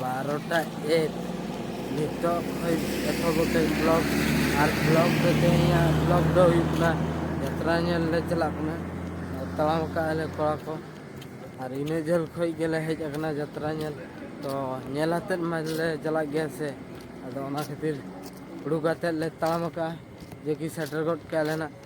ᱵᱟᱨᱚᱴᱟ ᱮᱠ ᱱᱤᱛᱚᱜ ᱠᱷᱚᱡ ᱮᱛᱚᱦᱚᱵ ᱟᱠᱟᱫ ᱵᱞᱚᱜ ᱟᱨ ᱵᱞᱚᱜ ᱫᱚ ᱛᱮᱦᱮᱧᱟᱜ ᱵᱞᱚᱜ ᱫᱚ ᱦᱩᱭᱩᱜ ᱠᱟᱱᱟ ᱡᱟᱛᱨᱟ ᱧᱮᱞ ᱞᱮ ᱪᱟᱞᱟᱜ ᱠᱟᱱᱟ ᱟᱨ ᱛᱟᱲᱟᱢ ᱟᱠᱟᱫ ᱟᱞᱮ ᱠᱚᱲᱟ ᱠᱚ ᱟᱨ ᱤᱱᱟᱹ ᱡᱷᱟᱹᱞ ᱠᱷᱚᱡ ᱜᱮᱞᱮ ᱦᱮᱡ ᱟᱠᱟᱱᱟ ᱡᱟᱛᱨᱟ ᱧᱮᱞ ᱛᱚ ᱧᱮᱞ ᱟᱛᱮᱫ ᱢᱟᱞᱮ ᱪᱟᱞᱟᱜ ᱜᱮᱭᱟ ᱥᱮ ᱟᱫᱚ ᱚᱱᱟ ᱠᱷᱟᱹᱛᱤᱨ ᱩᱰᱩᱠ ᱠᱟᱛᱮᱫ ᱞᱮ ᱛᱟᱲᱟᱢ ᱟᱠᱟᱫᱼᱟ ᱡᱮ ᱠᱤ ᱥᱮᱴᱮᱨ ᱜᱚᱫ ᱠᱮᱫᱼᱟ ᱞᱮ ᱱᱟᱦᱟᱜ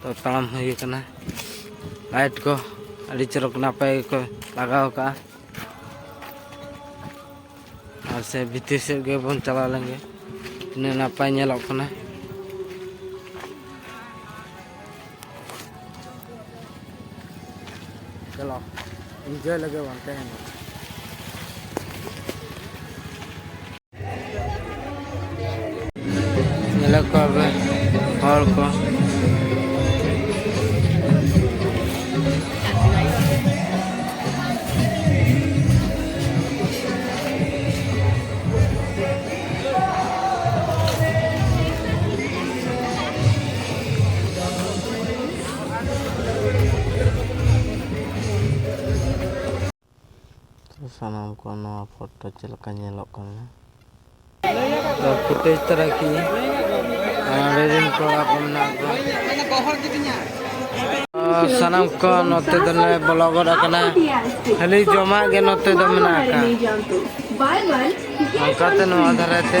ᱛᱚ ᱛᱟᱲᱟᱢ ᱦᱩᱭ ᱟᱠᱟᱱᱟ ᱞᱟᱭᱤᱴ ᱠᱚ ᱟᱹᱰᱤ ᱪᱚᱨᱚᱠ ᱱᱟᱯᱟᱭ ᱜᱮᱠᱚ ᱞᱟᱜᱟᱣ ᱠᱟᱜᱼᱟ ᱟᱨ ᱥᱮ ᱵᱷᱤᱛᱤᱨ ᱥᱮᱫ ᱜᱮᱵᱚᱱ ᱪᱟᱞᱟᱣ ᱞᱮᱱ ᱜᱮ ᱛᱤᱱᱟᱹᱜ ᱱᱟᱯᱟᱭ ᱧᱮᱞᱚᱜ ᱠᱟᱱᱟ ᱪᱟᱞᱟᱣ ᱤᱱᱡᱚᱭ ᱞᱟᱹᱜᱤᱫ ᱵᱟᱝ ᱛᱟᱦᱮᱱᱟ ᱧᱮᱞᱚᱜ ᱠᱚ ᱟᱵᱮ ᱦᱚᱲ ᱠᱚ ᱥᱟᱱᱟᱢ ᱠᱚ ᱱᱚᱣᱟ ᱯᱷᱳᱴᱳ ᱪᱮᱫ ᱞᱮᱠᱟ ᱧᱮᱞᱚᱜ ᱠᱟᱱᱟ ᱯᱷᱩᱴᱮᱡᱽ ᱛᱟᱨᱟ ᱠᱤ ᱚᱸᱰᱮ ᱨᱮᱱ ᱠᱚᱲᱟ ᱠᱚ ᱢᱮᱱᱟᱜ ᱠᱚᱣᱟ ᱥᱟᱱᱟᱢ ᱠᱚ ᱱᱚᱛᱮ ᱫᱚᱞᱮ ᱵᱚᱞᱚ ᱜᱚᱫ ᱟᱠᱟᱱᱟ ᱠᱷᱟᱹᱞᱤ ᱡᱚᱢᱟᱜ ᱜᱮ ᱱᱚᱛᱮ ᱫᱚ ᱢᱮᱱᱟᱜ ᱟᱠᱟᱫ ᱚᱱᱠᱟᱛᱮ ᱱᱚᱣᱟ ᱫᱷᱟᱨᱮ ᱛᱮ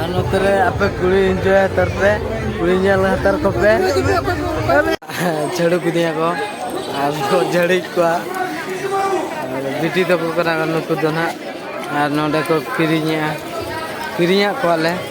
ᱟᱨ ᱱᱚᱛᱮ ᱨᱮ ᱟᱯᱮ ᱠᱩᱲᱤ ᱤᱱᱡᱚᱭ ᱦᱟᱛᱟᱨ ᱯᱮ ᱠᱩᱲᱤ ᱧᱮᱞ ᱦᱟᱛᱟᱨ ᱠᱚᱯᱮ ᱡᱷᱟᱹᱲᱩ ᱠᱤᱫᱤᱧᱟ ᱠᱚ ᱟᱨ ᱠᱚ ᱡᱷᱟᱹᱲᱤᱡ ᱠᱚᱣᱟ ᱵᱤᱴᱤ ᱛᱟᱠᱚ ᱠᱟᱱᱟ ᱱᱩᱠᱩ ᱫᱚ ᱱᱟᱦᱟᱜ ᱟᱨ ᱱᱚᱰᱮ ᱠᱚ ᱠᱤᱨᱤᱧᱮᱜᱼᱟ ᱠᱤᱨᱤᱧᱟᱜ ᱠᱚᱣᱟᱞᱮ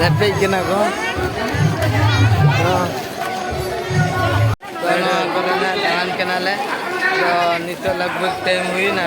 ᱨᱮᱯᱮᱡ ᱠᱟᱱᱟ ᱠᱚ ᱫᱟᱬᱟᱱ ᱠᱟᱱᱟᱞᱮ ᱛᱚ ᱱᱤᱛᱚᱜ ᱞᱟᱜᱽ ᱵᱷᱟᱜᱽ ᱴᱟᱭᱤᱢ ᱦᱩᱭᱱᱟ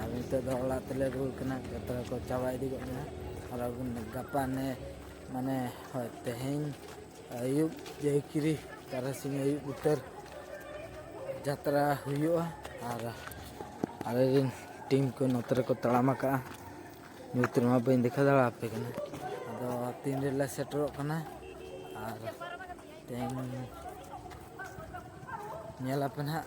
ᱟᱨ ᱱᱤᱛᱚᱜ ᱫᱚ ᱚᱲᱟᱜ ᱛᱮᱞᱮ ᱨᱩᱣᱟᱹᱲ ᱠᱟᱱᱟ ᱡᱚᱛᱚ ᱦᱚᱲ ᱠᱚ ᱪᱟᱵᱟ ᱤᱫᱤ ᱠᱚᱜ ᱠᱟᱱᱟ ᱟᱨ ᱜᱟᱯᱟ ᱱᱮ ᱢᱟᱱᱮ ᱦᱳᱭ ᱛᱮᱦᱮᱧ ᱟᱹᱭᱩᱵ ᱡᱟᱹᱭᱠᱤᱨᱤ ᱛᱟᱨᱟᱥᱤᱧ ᱟᱹᱭᱩᱵ ᱩᱛᱟᱹᱨ ᱡᱟᱛᱨᱟ ᱦᱩᱭᱩᱜᱼᱟ ᱟᱨ ᱟᱞᱮ ᱨᱮᱱ ᱴᱤᱢ ᱠᱚ ᱱᱚᱛᱮ ᱨᱮᱠᱚ ᱛᱟᱲᱟᱢ ᱟᱠᱟᱜᱼᱟ ᱱᱤᱛ ᱨᱮᱢᱟ ᱵᱟᱹᱧ ᱫᱮᱠᱷᱟᱣ ᱫᱟᱲᱮ ᱟᱯᱮ ᱠᱟᱱᱟ ᱟᱫᱚ ᱛᱤᱱ ᱨᱮᱞᱮ ᱥᱮᱴᱮᱨᱚᱜ ᱠᱟᱱᱟ ᱟᱨ ᱛᱮᱦᱮᱧ ᱧᱮᱞ ᱟᱯᱮ ᱱᱟᱦᱟᱜ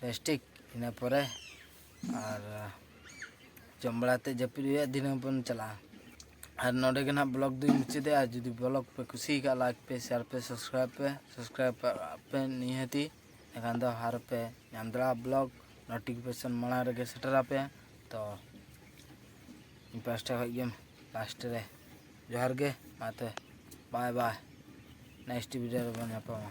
ᱯᱮᱥᱴᱤᱠ ᱤᱱᱟᱹ ᱯᱚᱨᱮ ᱟᱨ ᱡᱚᱢ ᱵᱟᱲᱟ ᱠᱟᱛᱮ ᱡᱟᱹᱯᱤᱫ ᱦᱩᱭᱩᱜᱼᱟ ᱫᱤᱱᱟᱹᱢ ᱵᱚᱱ ᱪᱟᱞᱟᱜᱼᱟ ᱟᱨ ᱱᱚᱰᱮ ᱜᱮ ᱱᱟᱦᱟᱜ ᱵᱞᱚᱜ ᱫᱚᱧ ᱢᱩᱪᱟᱹᱫᱮᱜᱼᱟ ᱡᱩᱫᱤ ᱵᱞᱚᱜ ᱯᱮ ᱠᱩᱥᱤ ᱠᱟᱜ ᱞᱟᱭᱤᱠ ᱯᱮ ᱥᱮᱭᱟᱨ ᱯᱮ ᱥᱟᱵᱥᱠᱨᱟᱭᱤᱵ ᱯᱮ ᱥᱟᱵᱥᱠᱨᱟᱭᱤᱵ ᱯᱮ ᱱᱤᱦᱟᱹᱛᱤ ᱮᱱᱠᱷᱟᱱ ᱫᱚ ᱦᱟᱨ ᱯᱮ ᱧᱟᱢ ᱫᱟᱲᱮᱭᱟᱜᱼᱟ ᱵᱞᱚᱜ ᱱᱳᱴᱤᱯᱷᱤᱠᱮᱥᱚᱱ ᱢᱟᱲᱟᱝ ᱨᱮᱜᱮ ᱥᱮᱴᱮᱨ ᱟᱯᱮᱭᱟ ᱛᱚ ᱤᱧ ᱯᱟᱥᱴᱟ ᱠᱷᱚᱡ ᱜᱮ ᱞᱟᱥᱴ ᱨᱮ ᱡᱚᱦᱟᱨ ᱜᱮ ᱢᱟ ᱛᱚᱵᱮ ᱵᱟᱭ ᱵᱟᱭ ᱱᱮᱠᱥᱴ ᱵᱷᱤᱰᱤᱭᱳ ᱨᱮᱵᱚᱱ ᱧᱟᱯᱟᱢᱟ